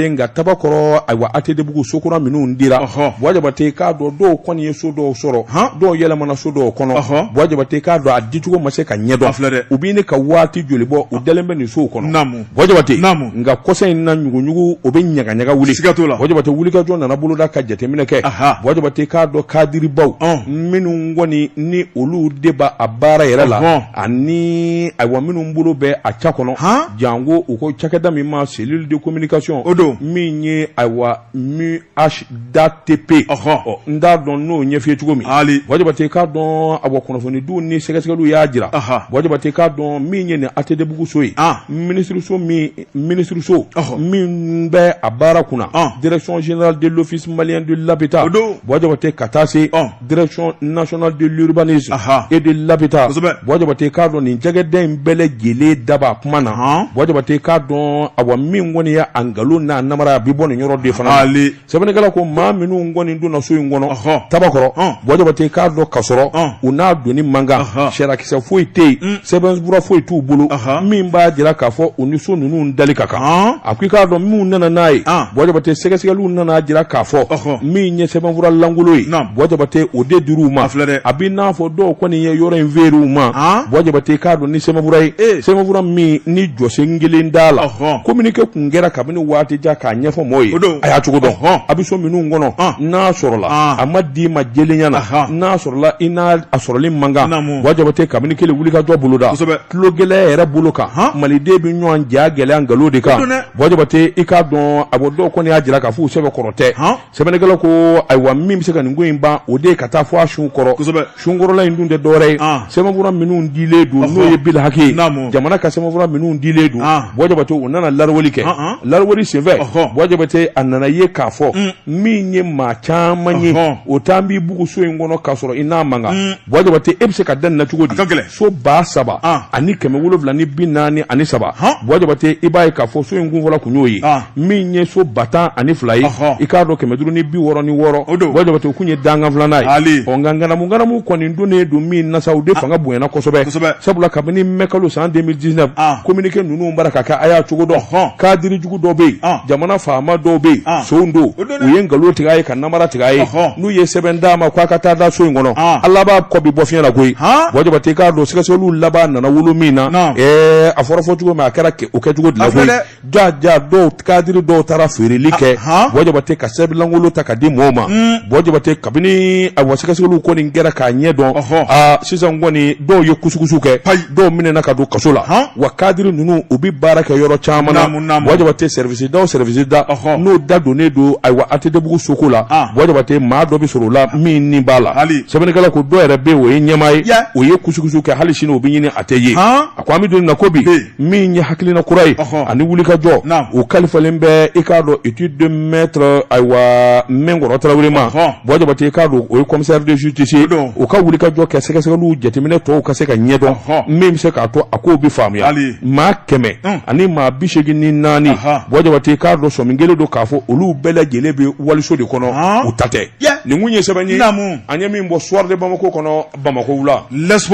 nka tabakɔrɔ ayiwa ATTbugu so kura minnu dira Buwa Jabate k'a dɔn dɔw kɔni ye so dɔw sɔrɔ dɔw yɛlɛmana so dɔw kɔnɔ Buwa Jabate k'a dɔn a dicogo ma se ka ɲɛ dɔn filɛ dɛ u bɛ ɲini ka waati joli bɔ u dalen bɛ nin sow kɔnɔ Buwa Jabate nka kɔsa in na ɲuguɲugu o bɛ ɲagaɲaga wuli sikaso la Buwa Jabate wulikajɔ nana boloda ka jateminɛ kɛ Buwa Jabate k'a dɔn kadiribaw minnu kɔni ni olu de b' a baara yɛrɛ la ani ayiwa minnu bolo bɛ a ca kɔnɔ janko u ko cakɛda min ma cellule de communication o don min ye ayiwa MUHDATP ɔhɔn n t'a dɔn n'o ɲɛf'i ye cogo min hali Buwa Jabate k'a dɔn awa kunnafonidiw ni sɛgɛsɛgɛliw y'a jira Buwa Jabate k'a dɔn min ye nin ATTbugu so ye minisiriso min minisiriso min bɛ a baara kunna direction générale de l'office malien de l'habitat o don Buwa Jabate ka taa se direction nationale de l'urbanisme et de l'habitat Buwa Jabate k'a dɔn nin jɛgɛden in bɛɛ lajɛlen da b'a kuma na Buwa Jabate k'a dɔn awa min kɔni ye a nkalon n'a namara a bɛ bɔ nin yɔrɔ de fana na sɛbɛnnikɛla ko maa minnu kɔni donna so in kɔnɔ tabakɔrɔ Buwa Jabate k'a dɔn ka sɔrɔ u n'a donni man kan sariyakisɛ foyi tɛ yen mm. sɛbɛnfura foyi t'u bolo min b'a jira k'a fɔ u ni so ninnu dali ka kan a ko i k'a dɔn minnu nana n'a ye Buwa Jabate sɛgɛsɛgɛliw nan'a jira k'a fɔ min ye sɛbɛnfura lankolon ye Buwa Jabate o de dir'u ma a bɛ n'a fɔ dɔw kɔni ye yɔrɔ in feer'u ma Buwa Jabate k'a dɔn ni sɛbɛnfura ye sɛbɛnfura min ni jɔsen kelen t'a la communiqué tun kɛra kabini waati jan k'a ɲɛfɔ maaw ye a y'a cogo dɔn a bɛ so minnu kɔnɔ n'a sɔrɔla a ma d'i ma jɛlenya na n'a sɔrɔla i n'a a sɔrɔli man kan Buwa Jabate kabini kɛlen wulikajɔ boloda tulogɛlɛya yɛrɛ bolo kan maliden bɛ ɲɔgɔn ja gɛlɛya nkalon de kan Buwa Jabate i k'a dɔn a bɔ dɔw kɔni y'a jira k'a fɔ u sɛbɛn kɔrɔ tɛ sɛbɛnnikɛla ko ayiwa min bɛ se ka nin ko in ban o de ye ka taa fɔ a sun kɔrɔ sunkɔrɔla in dun tɛ dɔwɛrɛ ye sɛbɛnfura minnu dilen don n'o ye bilihaki ye jamana ka sɛbɛnfura minnu dilen don Buwa Jabate u nana larawale kɛ larawale senfɛ Buwa Jabate a nana ye k'a fɔ min ye maa caman ye o taa b'i buguso in kɔnɔ k'a sɔrɔ i n'a man kan Buwa Jabate e bɛ se ka da nin na cogo di? A ka gɛlɛn. So ba saba An. ani kɛmɛ wolonwula ni bi naani ani saba. Hɔn. Buwa Jabate i b'a ye k'a fɔ so in kun fɔlɔ kun y'o ye. An. Min ye so ba tan ani fila ye. Ɔhɔ. I k'a dɔn kɛmɛ duuru ni bi wɔɔrɔ ni wɔɔrɔ. O don. Buwa Jabate o kun ye dankan filanan ye. Ali. Ɔ nka nganamu nganamu kɔni donnen don min na sa, o de fanga bonyana kosɛbɛ. Kosɛbɛ. Sabula kabini mai kalo san 2019. An. Communiqué ninnu bara ka kɛ a y'a cogo dɔn. Ɔhɔn. Kadiri jugu dɔw bɛ yen. An. Jamana faama dɔw bɛ yen. An. Sonw don. O don. u ye nkalon tigɛ a ye ka namara tigɛ a ye n'u ye sɛbɛn d'a ma k'a ka taa da so in kɔnɔ a laban ko bi bɔ fiɲɛ la koyi Buwa Jabate k'a dɔn sɛgɛsɛgɛliw laban nana wolo min na a fɔra fɔ cogo min a kɛra o kɛcogo de la koyi ja ja dɔw kadiri dɔw taara feereli kɛ Buwa Jabate ka sɛbɛnlankolon ta ka di mɔɔw ma mm. Buwa Jabate kabini awa sɛgɛsɛgɛliw kɔni kɛra k'a ɲɛ dɔn aa sisan kɔni dɔw ye kusukusu kɛ dɔw minɛna ka don kaso la wa kadiri ninnu u bɛ baara kɛ yɔrɔ caman na Buwa Jabatɛ service da service da n'o da donnen don ayiwa ATTbugu soko la Buwa Jabatɛ maa dɔ bɛ sɔrɔ o la min ni b'a la sɛbɛnnikɛla ko dɔw yɛrɛ bɛ o ye ɲɛmaa ye o ye kusukusu kɛ hali sini o bɛ ɲini a tɛ ye a ko an bɛ don min na ko bi min ye hakilina kura ye ani wuli ka jɔ o kalifalen bɛ i k'a dɔn étude de maître ayiwa Minkɔrɔ Tarawele ma Buwa Jabatɛ i k'a dɔn o ye commissaire de justice ye o ka wuli ka jɔ kɛ sɛgɛsɛgɛliw jateminɛ tɔw ka se ka ɲɛdɔn min bɛ se k'a to a kow bɛ faamuya maa kɛmɛ ani maa bi segin ni naani Buwa Jabatɛ i k'a dɔn sɔmi kɛlen don k'a fɔ olu bɛɛ lajɛlen bɛ waliso de kɔnɔ u ta tɛ nin kun ye sɛbɛn ye an ye min bɔ Soir de Bamako kɔnɔ Bamakɔ wula las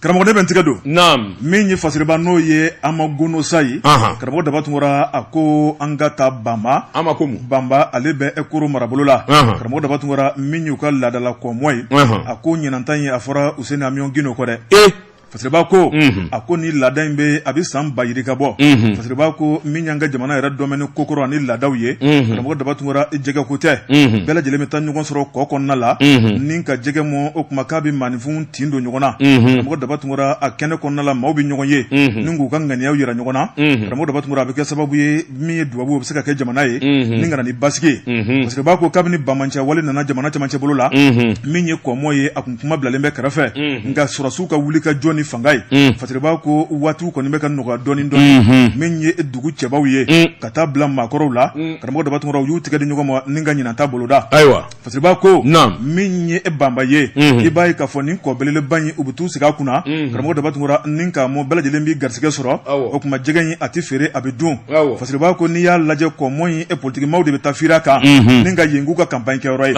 karamɔgɔ de bɛ n tigɛ don min ye Fasiriba n'o ye Amagono Sayi karamɔgɔ Daba Tunkara a ko an ka taa banba an ma ko banba ale bɛ e koro marabolo la karamɔgɔ Daba Tunkara min y'u ka laadala kɔmɔ ye a ko ɲinan ta ye a fɔra Housseini Amion Guindo kɔ dɛ Fasiriba ko a ko ni laada in bɛ a bɛ san ba yirika bɔ Fasiriba ko min y'an ka jamana yɛrɛdɔn ni kokɔrɔ ani laadaw ye karamɔgɔ Daba Tunkara jɛgɛ ko tɛ bɛɛ lajɛlen bɛ taa ɲɔgɔn sɔrɔ kɔ kɔnɔna la ni ka jɛgɛ mɔn o kuma k'a bɛ maaninfin tin don ɲɔgɔn na karamɔgɔ Daba Tunkara a kɛnɛ kɔnɔna la maaw bɛ ɲɔgɔn ye ni k'u ka ŋaniya jira ɲɔgɔn na karamɔgɔ Daba Tunkara a bɛ kɛ sababu ye min ye dubabu u bɛ se ka kɛ jamana ye ni ka na ni basigi ye Fasiriba ko kabini bamanci wale nana jamana cɛmancɛ bolo la min ye kɔmɔ ye kuma bilalen bɛ kɛrɛfɛ nka sɔrɔsiw ka wuli ka jɔ ni fanga ye Fasiriba ko waati kɔni bɛ ka nɔgɔya dɔɔni dɔɔni min ye dugu cɛbaw ye ka taa bila maakɔrɔw la karamɔgɔ Daba Tunkara u y'u tigɛ di ɲɔgɔn ma ni ka ɲinan ta boloda ayiwa Fasiriba ko min ye e banba ye i b'a ye k'a fɔ nin kɔ belebeleba in u bɛ t'u sigi a kunna karamɔgɔ Daba Tunkara ni ka mɔ bɛɛ lajɛlen bɛ garisɛgɛ sɔrɔ o kuma jɛgɛ in a tɛ feere a bɛ dun Fasiriba ko n'i y'a lajɛ kɔmɔ in politikimaaw de bɛ taa firi a kan ni ka yen k'u ka kanpaɲi kɛyɔrɔ ye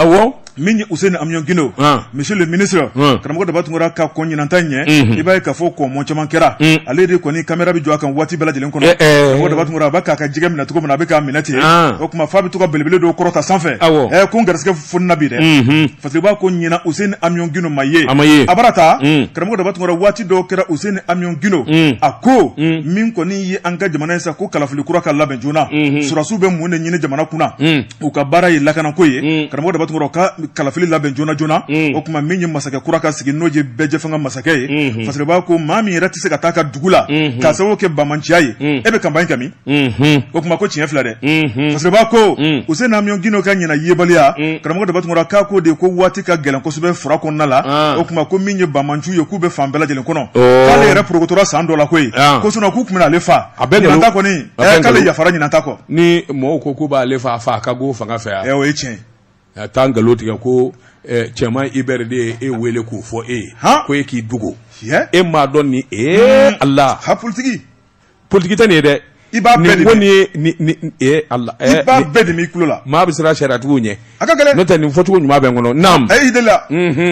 min ye Housseini Amion Guindo ah. monsieur le ministre ah. karamɔgɔ Daba Tunkara ka kɔn ɲinan ta ɲɛ mhm. i b'a ye k'a fɔ kɔmɔ caman kɛra mm. ale de kɔni kamera bɛ jɔ a kan waati bɛɛ lajɛlen kɔnɔ eh, eh. karamɔgɔ Daba Tunkara a b'a k'a ka jɛgɛ minɛ cogo min na a bɛ k'a minɛ ten ah. o tuma f'a bɛ to ka belebele dɔw kɔrɔta sanfɛ eh, ko n garisɛgɛ fonina bi dɛ mhm. Fasiriba ko ɲinan Housseini Amion Guindo ma ye a bara ta mm. karamɔgɔ Daba Tunkara waati dɔw kɛra Housseini Amion Guindo mm. a ko min kɔni ye an ka jamana ye sa ko kalafili kura ka labɛn joona mhm. surasiw bɛ mun de ɲini jamana kunna u ka baara ye lakanako ye mm. karamɔgɔ Daba Tunkara ka kalafili labɛn joona joona mm. o tuma min ye masakɛ kura ka sigi n'o ye bɛɛjɛfanga masakɛ ye mm-hmm. Fasiriba ko maa min yɛrɛ tɛ se ka taa a ka dugu la mm-hmm. k'a sababu kɛ bamanciya ye mm. e bɛ kanpaɲi kɛ min mm-hmm. o tuma ko tiɲɛ fila dɛ Fasiriba ko Housseini Amion Guindo ka ɲinan yebaliya karamɔgɔ Daba Tunkara k'a ko de ko waati ka gɛlɛn kosɛbɛ fura kɔnɔna la ah. o tuma ko min ye bamanciw ye k'u bɛ fan bɛɛ lajɛlen kɔnɔ oh. k'ale yɛrɛ porokotora san dɔ la koyi ah. ko sinɔn k'u tun bɛna ale fa a bɛ ɲinan ta kɔni k'ale yafara ɲinan ta kɔ ni mɔgɔw ko k'u b'ale faa faa ka b'o fanga fɛ yan o ye tiɲɛ a taa nkalon tigɛ ko cɛman i bɛ de ye e wele k'o fɔ e ye ko e k'i dogo e m'a dɔn ni e hmm. Ala ha politigi politigi tɛ nin ye dɛ i b'a nin ye Ala bɛɛ de b'i tulo la maa bɛ siran sariyatigiw ɲɛ a ka gɛlɛn n'o tɛ nin fɔcogo ɲuman bɛ n kɔnɔ naam a ye i deli la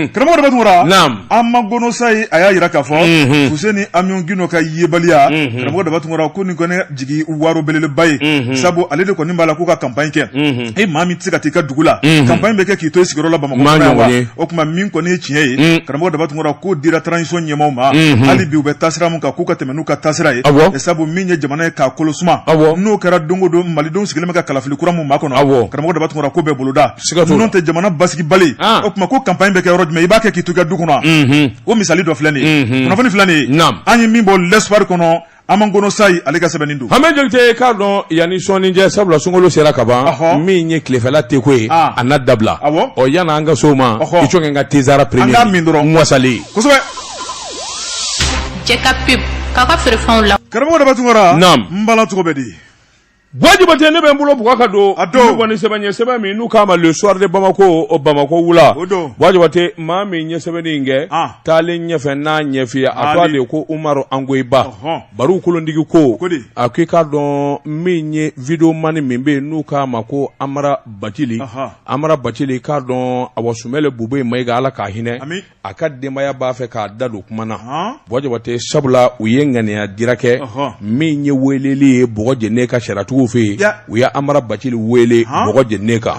karamɔgɔ Daba Tunkara naam Amagono Sayi a y'a yira k'a fɔ fuseni Amiyɔn Gindo ka yebaliya karamɔgɔ Daba Tunkara ko nin kɔni jigi waro belebeleba ye sabu ale de kɔni b'a la k'u ka kanpaɲi kɛ e maa min tɛ se ka t'i ka dugu la kanpaɲi bɛ kɛ k'i to i sigiyɔrɔ la bamakɔ wa o kuma min kɔni ye tiɲɛ ye karamɔgɔ Daba Tunkara k'o dira transition ɲɛmaaw ma hali bi u bɛ taasira min kan k'u ka tɛmɛ n'u ka taasira ye sabu min ye jamana ye k'a kolo suma n'o kɛra don o don malidenw sigilen bɛ ka kalafili kura min makɔnɔ karamɔgɔ Daba Tunkara ko bɛɛ boloda ninnu tɛ jamana basigi bali ah. o tuma ko kanpaɲi bɛ kɛ yɔrɔ jumɛn i b'a kɛ k'i to i ka du kɔnɔ mhm. o misali dɔ filɛ nin ye mhm. kunnafoni filɛ nin ye an ye min bɔ l'Espoir kɔnɔ Amagono Sayi ale ka sɛbɛnni don hamɛ jolite k'a dɔn yanni sɔɔni jɛ sabula sunkalo sera ka ban min ye tilefɛla te ko ye ah. a na dabila ɔ yan'an ka s'o ma i cɔkɛ n ka tezara premier an k'a min dɔrɔn n wasalen kosɛbɛ Cɛ ka pe k'a ka feerefɛnw la karamɔgɔ Daba Tunkara n bala cogo bɛ di Buwa Jabate ne bɛ n bolo bugɔ ka don a dɔw kɔni sɛbɛn ɲɛ sɛbɛn min n'u k'a ma le soir de Bamako o Bamako wula o don Buwa Jabate maa min ye sɛbɛnni in kɛ ah. taalen ɲɛfɛ n'a ɲɛfiye a tɔgɔ de ye ko Umaru Angoyiba Baru kolondigi ko a k'i k'a dɔn min ye video mani min bɛ yen n'u k'a ma ko Amara Bacili Amara Bacili k'a dɔn awa Sumɛlu Bubɛyi Mayiga Ala k'a hinɛ a ka denbaya b'a fɛ k'a da don kuma na Buwa Jabate sabula u ye ŋaniya dira kɛ min ye weleli ye bɔgɔ jene ka sariyatigiw fɛ yen u ye Amara Bacili wele bɔgɔ jene kan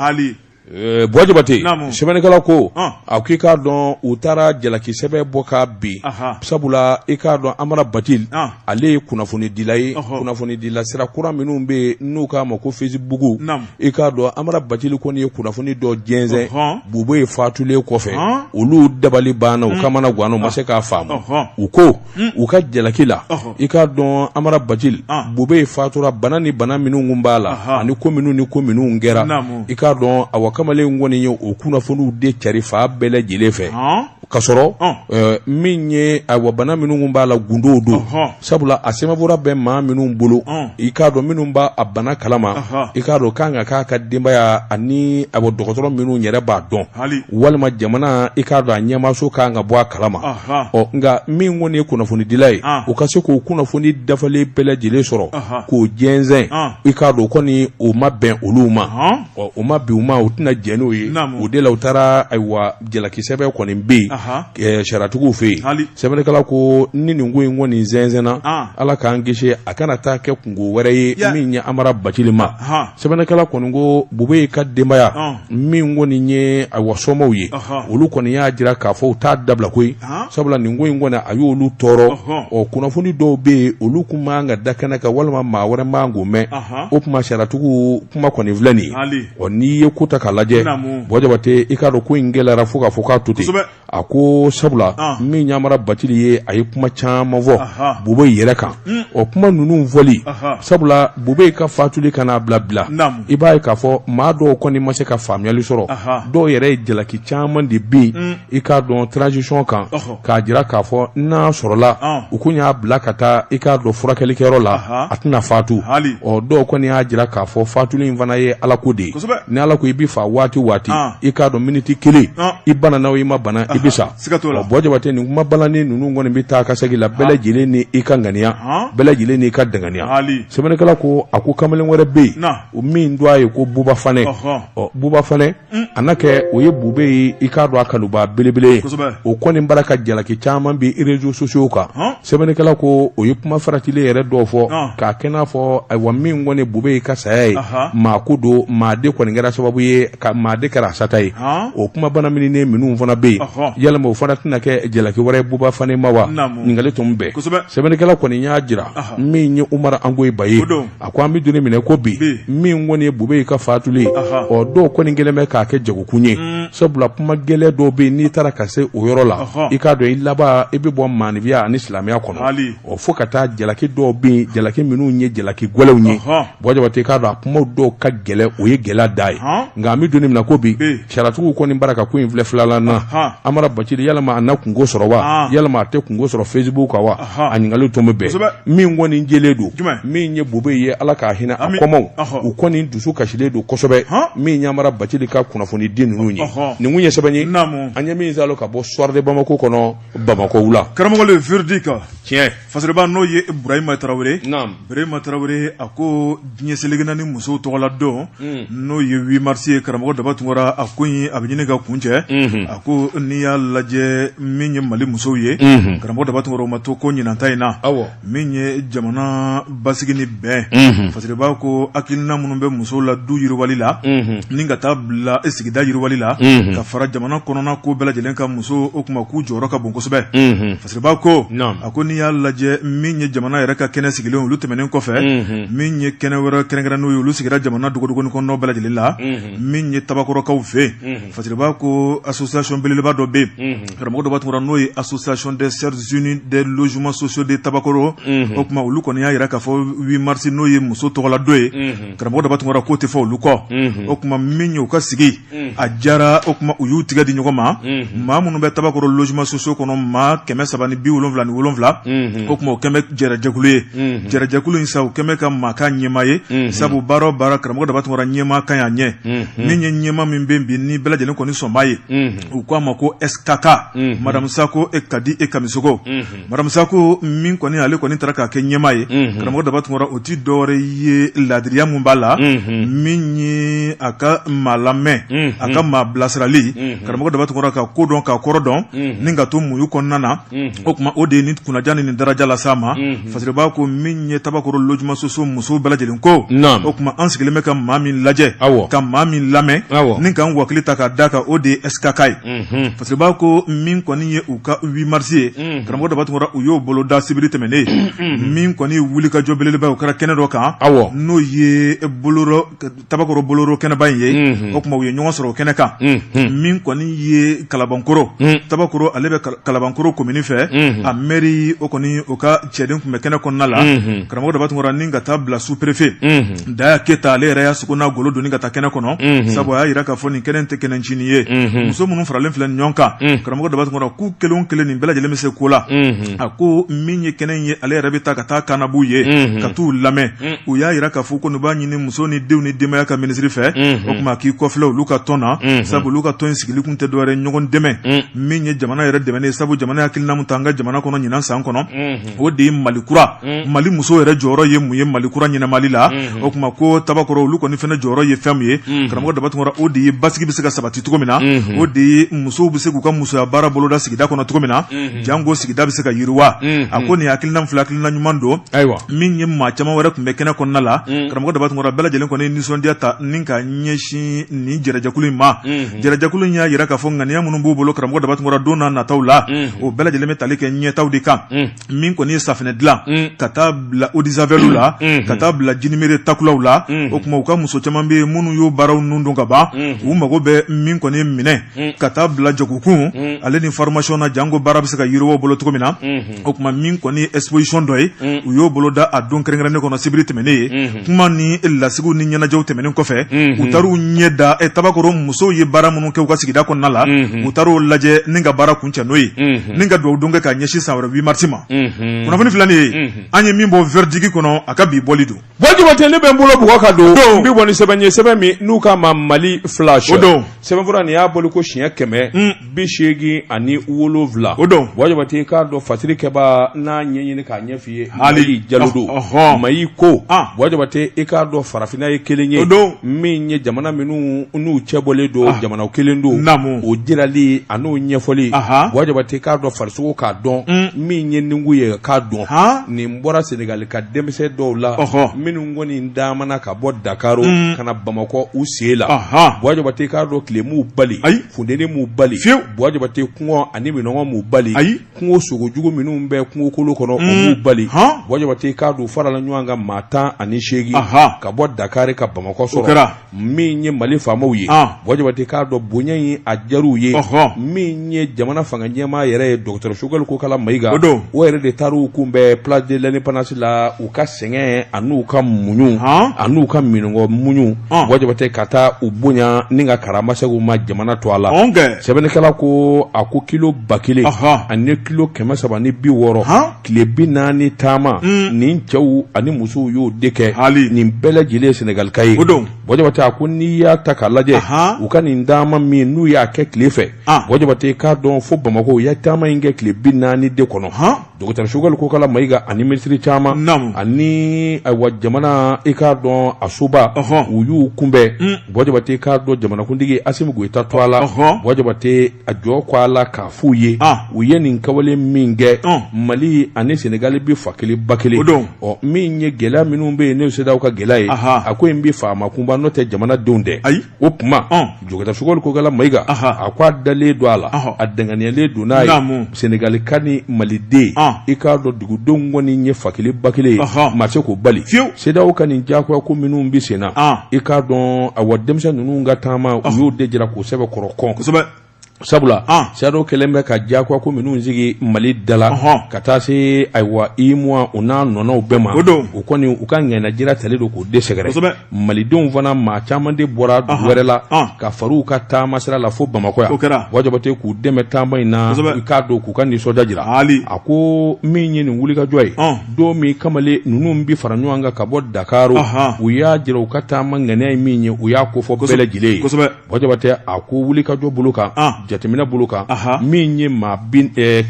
eh, Buwa Jabate sɛbɛnnikɛla ko a ko i k'a dɔn u taara jalaki sɛbɛn bɔ ka bin sabula i k'a dɔn Amara Bacili ale ye kunnafonidila ye kunnafonidila sira kura minnu bɛ yen n'u k'a ma ko fesibuku i k'a dɔn Amara Bacili kɔni ye kunnafoni dɔ jɛnsɛn, ɔhɔn, Bubɛyi faatulen kɔfɛ, ɔn, olu dabali banna u kamana ganna u ma se k'a faamu, ɔhɔn, u ko, un, u ka jalaki la, ɔhɔn, i k'a dɔn Amara Bacili, an, Bubɛyi faatura bana ni bana minnu tun b'a la, anhan, ani ko minnu ni ko minnu kɛra, naamu, i k'a dɔn awa kamalen kɔni ye o kunnafoniw de carin fan bɛɛ lajɛlen fɛ, ɔn ka sɔrɔ min ye awa bana minnu b'a la gundo don sabula a sɛbɛnfura bɛ maa minnu bolo i k'a dɔn minnu b'a a bana kalama i k'a dɔn kan ka k'a ka denbaya ani a dɔgɔtɔrɔ minnu yɛrɛ b'a dɔn walima jamana i k'a dɔn a ɲɛmaaso kan ka bɔ a kalama ɔ nka min kɔni ye kunnafonidila ye o ka se k'o kunnafoni dafalen bɛɛ lajɛlen sɔrɔ k'o jɛnsɛn i k'a dɔn kɔni o ma bɛn olu ma ɔ o ma bɛn u ma u tɛna jɛn n'o ye o de la u taara ayiwa jalakisɛbɛn kɔni bɛ yen sariyatigiw fɛ yen sɛbɛnnikɛla ko ni nin ko in kɔni nin jɛnsɛnna ala k'an kisi a kana taa kɛ kungo wɛrɛ ye min ye Amara Bacili ma sɛbɛnnikɛla kɔni ko Bubeyi ka denbaya min kɔni nin ye ayiwa somɔgɔw ye olu kɔni y'a jira k'a fɔ u t'a dabila ko sabula nin ko in kɔni a y'olu tɔɔrɔ ɔ kunnafoni dɔw bɛ yen olu tun man ka da kɛnɛ kan walima maa wɛrɛ man k'o mɛn o tuma sariyatigiw kuma kɔni filɛ ɔ n'i ye ko ta k'a lajɛ Bɔ Jabate i k'a dɔn ko in gɛlɛyara fo k'a fɔ k'a to ten a ko sabula ah. min ye Amara Bacili ye a ye kuma caman fɔ Bubeyi yɛrɛ kan hmm. ɔ kuma ninnu fɔli sabula Bubeyi ka fatuli ka n'a bila bila i b'a ye k'a fɔ maa dɔw kɔni ma se ka faamuyali sɔrɔ dɔw yɛrɛ ye jalaki caman de bin hmm. i k'a dɔn transition kan k'a jira k'a fɔ n'a sɔrɔla u tun y'a bila ka taa i k'a dɔn furakɛlikɛyɔrɔ la a tɛna faatu ɔ dɔw kɔni y'a jira k'a fɔ faatuli in fana ye Ala ko de ye ni Ala ko i bɛ fa waati o waati i k'a dɔn miniti kelen i banana i ma bana i bɛ sa Bɔ Jabate nin kuma balani ninnu kɔni bɛ taa ka segin la bɛɛ lajɛlen ni i ka ŋaniya bɛɛ lajɛlen n'i ka danganiya sɛbɛnnikɛla ko a ko kamalen wɛrɛ bɛ yen min dɔ a ye ko Buba Fanɛ ɔ Buba Fanɛ a na kɛ o ye Bubeyi i k'a dɔn a kanuba belebele ye o kɔni bara ka jalaki caman bin réseaux sociaux kan sɛbɛnnikɛla ko o ye kuma faratilen yɛrɛ dɔw fɔ k'a kɛ n'a fɔ ayiwa min kɔni Bubeyi ka saya ye maa ko don maa de kɔni kɛra sababu ye ka maa de kɛra a sata ye o kuma bana mini ni minnu fana bɛ yen yalama o fana tɛna kɛ jalaki wɛrɛ ye Buba Fanɛ ma wa ɲininkali tomi bɛ yen sɛbɛnnikɛla kɔni y'a jira min ye Umaru Angoyiba ye a ko an bɛ don min na ko bi min kɔni ye Bubeyi ka faatuli ye ɔ dɔw kɔni kɛlen bɛ k'a kɛ jagokun ye mm. sabula kuma gɛlɛn dɔw bɛ yen n'i taara ka se o yɔrɔ la i k'a dɔn i laban i bɛ bɔ maanifiya ani silamɛya kɔnɔ ɔ fo ka taa jalaki dɔw bɛ yen jalaki minnu ye jalaki gɛlɛnw ye Bɔ Jabate i k'a dɔn a kuma dɔw ka gɛlɛn o ye gɛlɛ da ye nka an bɛ don min na ko bi sariyatigiw kɔni bara ka ko in filɛ filala na Amara Bacili yalama a na kungo sɔrɔ wa yalama a tɛ kungo sɔrɔ Facebook kan wa a ɲininkali tomi bɛ yen min kɔni jɛlen don min ye Bubeyi ye ala ka hinɛ a kɔmaw u kɔni dusu kasilen don kosɛbɛ min ye Amara Bacili ka kunnafoni di ninnu ye nin kun ye sɛbɛn ye an ye min saalo ka bɔ Soir de Bamako kɔnɔ Bamako wula karamɔgɔ véridique tiɲɛ fɔbaa n'o ye burahima tarawele Berema tarawele a ko diɲɛ seleke naani musow tɔgɔla don n'o ye huit mars ye karamɔgɔ Daba Tunkara a ko in a bɛ ɲini ka kuncɛ a ko n'i y'a lajɛ min ye mali musow ye karamɔgɔ Daba Tunkara u ma to kɔ ɲinan ta in na aw min ye jamana basigi ni bɛn fasiriba ko hakilina minnu bɛ musow la du yiriwali la ni ka taa bila e sigida yiriwali la ka fara jamana kɔnɔna ko bɛɛ lajɛlen kan musow o tuma k'u jɔyɔrɔ ka bon kosɛbɛ Fasiriba ko a ko n'i y'a lajɛ min ye jamana yɛrɛ ka kɛnɛ sigilen olu tɛmɛnen kɔfɛ min ye kɛnɛ wɛrɛ kɛrɛnkɛrɛn n'o ye olu sigira jamana dogodogoni kɔnɔ bɛɛ lajɛlen la min ye Tabakorokaw fɛ Fasiriba ko association belebeleba dɔ bɛ yen karamɔgɔ Daba Tunkara n'o ye association des Sœurs Unies des logements sociaux de Tabakoro o kuma olu kɔni y'a jira k'a fɔ huit mars n'o ye muso tɔgɔladon ye karamɔgɔ Daba Tunkara k'o tɛ fɔ olu kɔ o kuma min ye u ka sigi a jara o kuma u y'u tigɛ di ɲɔgɔn ma maa minnu bɛ Tabakoro logements sociaux kɔnɔ maa kɛmɛ saba ni bi wolonwula ni wolonwula o kuma o kɛmɛ jɛrɛjɛkulu ye jɛrɛjɛkulu in sa u kɛmɛ ka maa kɛ ɲɛmaa ye sabu baara o baara karamɔgɔ Daba Tunkara ɲɛmaa ka ɲi a ɲɛ min ye ɲɛmaa min bɛ bi ni bɛɛ lajɛlen kɔni sɔnba ye u k'a ma ko SKK Madame Sako e Kadi e Kamisogo Madame Sako min kɔni ale kɔni taara k'a kɛ ɲɛmaa ye karamɔgɔ Daba Tunkara o tɛ dɔwɛrɛ ye ladiriya min b'a la min ye a ka maa lamɛn a ka maa bilasirali karamɔgɔ Daba Tunkara ka ko dɔn ka kɔrɔ dɔn ni ka to muɲu kɔnɔna na o kuma o de ye ni kunnaja ni daraja las'a ma Fasiriba ko min ye Tabakoro logements sociaux muso bɛɛ lajɛlen ko o kuma an sigilen bɛ ka maa min lajɛ ka maa min lamɛn ni k'an wakili ta k'a da kan o de ye SKK ye Fasiriba ko min kɔni ye u ka huit mars ye karamɔgɔ Daba Tunkara u y'o bolo da sibiri tɛmɛnnen min kɔni wuli ka jɔ belebeleba o kɛra kɛnɛ dɔ kan n'o ye Tabakoro boloro kɛnɛba in ye o kuma u ye ɲɔgɔn sɔrɔ o kɛnɛ kan min kɔni ye Kalabankoro Tabakoro ale bɛ Kalabankoro komini fɛ a mɛri o kɔni o ka cɛden tun bɛ kɛnɛ kɔnɔna la karamɔgɔ Daba Tunkara ni ka taa bila sous-préfet Daya Keyita ale yɛrɛ y'a sogo n'a golo doni ka taa kɛnɛ kɔnɔ sabu a y'a jira k'a fɔ nin kɛnɛ tɛ kɛnɛ ncinin ye muso minnu faralen filɛ ɲɔgɔn kan karamɔgɔ Daba Tunkara k'u kelen o kelen nin bɛɛ lajɛlen bɛ se ko la a ko min ye kɛnɛ in ye ale yɛrɛ bɛ taa ka taa ka na b'u ye ka t'u lamɛn u y'a jira k'a fɔ ko b'a ɲini muso ni denw ni denbaya ka minisiri fɛ o kuma k'i kɔfilɛ olu ka tɔn na sabu olu ka tɔn in sigili kun tɛ dɔwɛrɛ ɲɔgɔn dɛmɛ min ye jamana yɛrɛ dɛmɛ ye sabu jamana hakilina min ta an ka jamana kɔnɔ ɲinan san kɔnɔ o de ye mali kura mali muso yɛrɛ jɔyɔrɔ ye mun ye mali kura ɲɛnamali la o kuma ko Tabakoro olu kɔni fana jɔyɔrɔ ye fɛn min ye karamɔgɔ Daba Tunkara o de ye basigi bɛ se ka sabati cogo min na o de ye musow bɛ se k'u ka musoya baara boloda sigida kɔnɔ cogo min na janko sigida bɛ se ka yiriwa a ko nin hakilina fila hakilina ɲuman don ayiwa min ye maa caman wɛrɛ tun bɛ kɛnɛ kɔnɔna la karamɔgɔ Daba Tunkara bɛɛ lajɛlen kɔni nisɔndiya ta ni ka ɲɛsin nin jɛrɛjɛkulu in ma Jɛrɛjɛkulu y'a yira k'a fɔ ŋaniya minnu b'u bolo karamɔgɔ Daba Tunkara don n'a nataw la, unhun, o bɛɛ lajɛlen bɛ tali kɛ ɲɛtaaw de kan, un, min kɔni ye safinɛ dilan, un, ka taa bila eau de javel la, unhun, ka taa bila jinimere takulaw la, unhun, o kuma u ka muso caman bɛ yen minnu y'o baaraw nun dɔn ka ban, unhun, u mago bɛ min kɔni ye minɛn, un, ka taa bila jagokun, un, ale ni formation na janko baara bɛ se ka yiriwa u bolo cogo min na, unhun. o tuma min kɔni ye exposition dɔ ye mm. u y'o boloda a don kɛrɛnkɛrɛnnen kɔnɔ sibiri tɛmɛnen ye mm-hmm. kuma ni lasigiw ni ɲɛnajɛw tɛmɛnen kɔfɛ mm-hmm. u taar'u ɲɛ da eh, tabakoro musow ye baara minnu kɛ u ka sigida kɔnɔna la mm-hmm. u taar'o lajɛ ni ka baara kuncɛ n'o ye ni ka dugawu don kɛ ka ɲɛsin san wɛrɛ 8 marisi ma kunnafoni filanin ye an ye min bɔ verdigi kɔnɔ a ka bi bɔli don Jabate ne bɛ n bolo bugɔ ka don n bɛ bɔ ni sɛbɛn ye sɛbɛn min n'u k'a ma Mali flash o don sɛbɛnfura nin y'a bɔli ko siɲɛ kɛmɛ hmm. bi seegin ani wolonwula o don Buwa Jabate i k'a dɔn fasiri kɛbaa n'a ɲɛɲini k'a ɲɛf'i ye hali jalo don Mayi ko ah. Buwa Jabate i k'a dɔn farafinna ye kelen ye o don min ye jamana minnu n'u cɛ bɔlen don ah. jamana kelen don naamu o jirali a n'o ɲɛfɔli Buwa Jabate i k'a dɔn farisogo k'a dɔn hmm. min ye nin ko ye k'a dɔn nin bɔra Senegali ka denmisɛn dɔw la minnu kɔni taamana ka bɔ dakari mm. ka na bamakɔ u sen la Buwa Jabate k'a dɔn tile m'u bali ayi funteni m'u bali fiye Buwa Jabate kɔngɔ ani minnɔgɔ m'u bali ayi kungo sogojugu minnu bɛ kungokolo kɔnɔ o m'u bali Buwa Jabate k'a dɔn farala ɲɔgɔn kan maa tan ani seegin ka bɔ dakari ka bamakɔ sɔrɔ min ye mali faamaw ye Buwa Jabate k'a dɔn bonya in a diyar'u ye min ye jamana fanga ɲɛmaa yɛrɛ ye dɔgɔtɔrɔ Sogɛli Kokala Mayiga don o yɛrɛ de taara u kunbɛn place de l'indépendance la u ka sɛgɛn an'u ka muɲu an'u ka minnɔgɔ muɲu Buwa Jabate ka taa u bonya ni ka karama segin u ma jamana tɔgɔ la sɛbɛnnikɛla ko a ko kilo ba kelen ani kilo kɛmɛ saba ni bi wɔɔrɔ tile bi naani taama mm. nin cɛw ani musow y'o de kɛ hali nin bɛɛ lajɛlen ye senegalika ye o don Buwa Jabate a ko n'i y'a ta k'a lajɛ u ka nin taama min n'u y'a kɛ tile fɛ ah. Buwa Jabate k'a dɔn fo bamakɔ u ye taama in kɛ tile bi naani de kɔnɔ dɔgɔtɔrɔ Sogɛli Kokala Mayiga ani minisiri caman ani ayiwa jamana i k'a dɔn a soba u y'u kunbɛn mm. Buwa Jabate k'a dɔn jamanakuntigi Asimi Goyita tɔgɔ la Buwa Jabate a jɔ ko a la k'a f'u ye u ye nin kawale min kɛ mali ani senegali bɛ fa kelen ba kelen don ɔ min ye gɛlɛya minnu bɛ yen nin CEDEAO ka gɛlɛya ye a ko in bɛ faama kunba n'o tɛ jamanadenw tɛ ayi o tuma dɔgɔtɔrɔ Sogɛli Kokala Mayiga a ko a dalen don a la a dangaaniyalen don n'a senegalika ni maliden i k'a dɔn dugudenw kɔni ye fa kelen ba kelen ma se k'o bali fiyewu CEDEAO ka nin jagoya ko minnu bɛ sen na i k'a dɔn a wa denmisɛn ninnu ka taama u y'o de jira k'u sɛbɛkɔrɔ kɔn kosɛbɛ sabula CEDEAO kɛlen bɛ ka jagoya ko minnu sigi mali da la ka taa se ayiwa UEMOA u n'a ɲɔgɔnnaw bɛɛ ma o don u kɔni u ka ŋaniyajira talen don k'u de sɛgɛrɛ malidenw fana maa caman de bɔra wɛrɛ la ka far'u ka taama sira la fo bamakɔ yan o kɛra Buwa Jabate k'u dɛmɛ taama in na i k'a dɔn k'u ka nisɔndiya jira a ko min ye nin wulikajɔ ye don min kamalen ninnu bɛ fara ɲɔgɔn kan ka bɔ dakari u y'a jira u ka taama ŋaniya ye min ye u y'a kofɔ bɛɛ lajɛlen ye Buwa jabatɛ a ko wulikajɔ bolo kan jateminɛ bolo kan min ye maa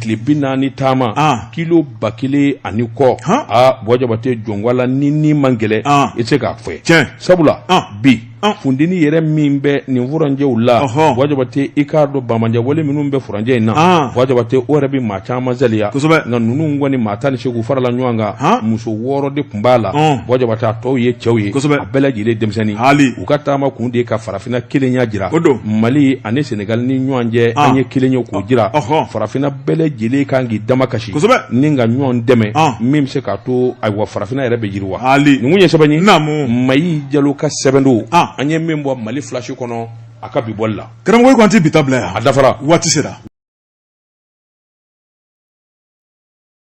tile bi naani taama kilo ba kelen ani kɔ aa buwa jabatɛ jɔn ko a la nin in man gɛlɛn i tɛ se k'a fɔ sabula bi funteni yɛrɛ min bɛ nin furancɛw la buwa jabatɛ i k'a dɔn banbaanci wale minnu bɛ furancɛ in na buwa jabatɛ o yɛrɛ bɛ maa caman salaya nka ninnu kɔni maa tan ni seegin farala ɲɔgɔn kan muso wɔɔrɔ de tun b'a la buwa jabatɛ a tɔw ye cɛw ye a bɛɛ lajɛlen denmisɛnnin u ka taama kun de ka farafinna kelenya jira mali ani senegali ni ɲɔgɔn cɛ an ye kelen ye k'o jira farafinna bɛɛ lajɛlen kan k'i damakasi ni ka ɲɔgɔn dɛmɛ min bɛ se k'a to ayiwa farafinna yɛrɛ bɛ yiriwa nin kun ye sɛbɛn ye mayi jalo ka sɛbɛn don an ye min bɔ mali flash kɔnɔ a ka bi bɔli la karamɔgɔ k'an tɛ bi ta bila yan a dafara waati sera